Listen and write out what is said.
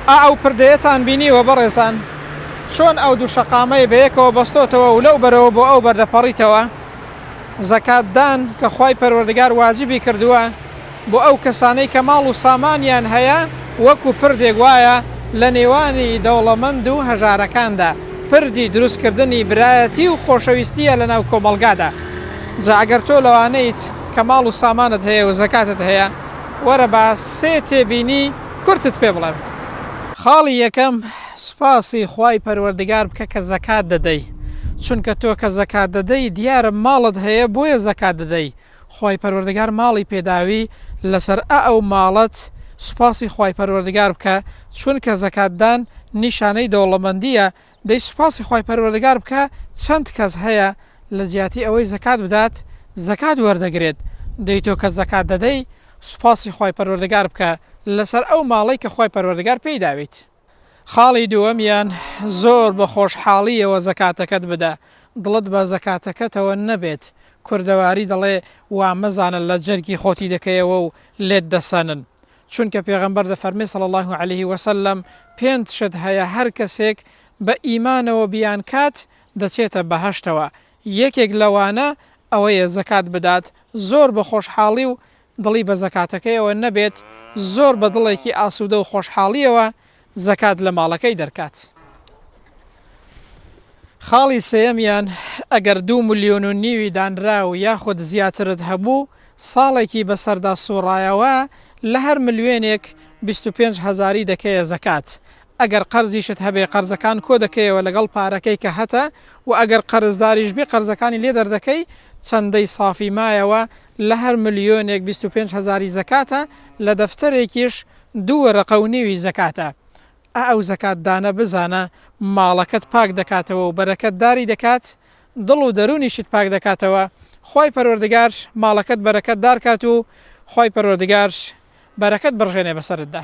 ئا ئەو پردەیەتان بینیوە بەڕێزان چۆن ئەو دوو شەقامەی بەیەکەوە بەستۆتەوە و لەو بەرەوە بۆ ئەو بەر دەپەڕیتەوە؟ زەکات دان کە خوای پەروەردگار واجبی کردووە بۆ ئەو کەسانەی کە ماڵ و سامانیان هەیە وەکو پردێک وایە لە نێوانی دەوڵەمەند و هەژارەکاندا پردی دروست کردنی برایەتی و خۆشەویستیە لە ناو کۆمەڵگادا جا ئەگەر تۆ لەوانەیت کە ماڵ و سامانت هەیە و زەکاتت هەیە وەرە با سێ تێبینی کورتت پێ بڵێم خاڵی یەکەم سوپاسی خوای پەروەردگار بکە کە زەکات دەدەی چونکە تۆ کە زەکات دەدەی دیارە ماڵت هەیە بۆیە زەکات دەدەی خوای پەروەردگار ماڵی پێداوی لەسەر ئە ئەو ماڵەت سوپاسی خوای پەروەردگار بکە چونکە زەکات دان نیشانەی دەوڵەمەندیە دەی سوپاسی خوای پەروەردگار بکە چەند کەس هەیە لە جیاتی ئەوەی زەکات بدات زەکات وەردەگرێت دەی تۆ کە زەکات دەدەی سوپاسی خوای پەروەردگار بکە لەسەر ئەو ماڵەی کە خوای پەروەردگار پێی داویت. خاڵی دووەمیان زۆر بە خۆشحاڵییەوە زەکاتەکەت بدە دڵت بە زەکاتەکەتەوە نەبێت، کوردەواری دەڵێ وا مەزانە لە جەرگی خۆتی دەکەیەوە و لێت دەسەنن چونکە پێغەمبەر دەفەرمێ صلی اللە علیە وسلم، پێنت شت هەیە هەر کەسێک بە ئیمانەوە بیانکات دەچێتە بەهەشتەوە، یەکێک لەوانە ئەوەیە زەکات بدات زۆر بە خۆشحاڵی و دڵی بە زەکاتەکەیەوە نەبێت، زۆر بە دڵێکی ئاسودە و خۆشحاڵیەوە زەکات لە ماڵەکەی دەرکات. خاڵی سێیەمیان، ئەگەر دوو ملیۆن و نیوی دانراو یاخود زیاترت هەبوو، ساڵێکی بەسەردا سوڕایەوە، لە هەر ملوێنێک بیست و پێنج هەزاری دەکەیە زەکات، ئەگەر قەرزیشت هەبێ قەرزەکان کۆدەکەیەوە لەگەڵ پارەکەی کە هەتە، وە ئەگەر قەرزداریش بی قەرزەکانی لێ دەردەکەی، چەندەی سافی مایەوە، لە هەر ملیۆنێک بیست و پێنج هەزاری زەکاتە، لە دەفتەرێکیش، دوو وەرەقە و نیوی زەکاتە. ئا ئەو زەکات دانە بزانە ماڵەکەت پاک دەکاتەوە و بەرەکەت داری دەکات، دڵ و دەروونیشت پاک دەکاتەوە، خوای پەروەردگار ماڵەکەت بەرەکەت دار کات و خوای پەروەردگار بەرەکەت بڕژێنێ بەسەرتدا.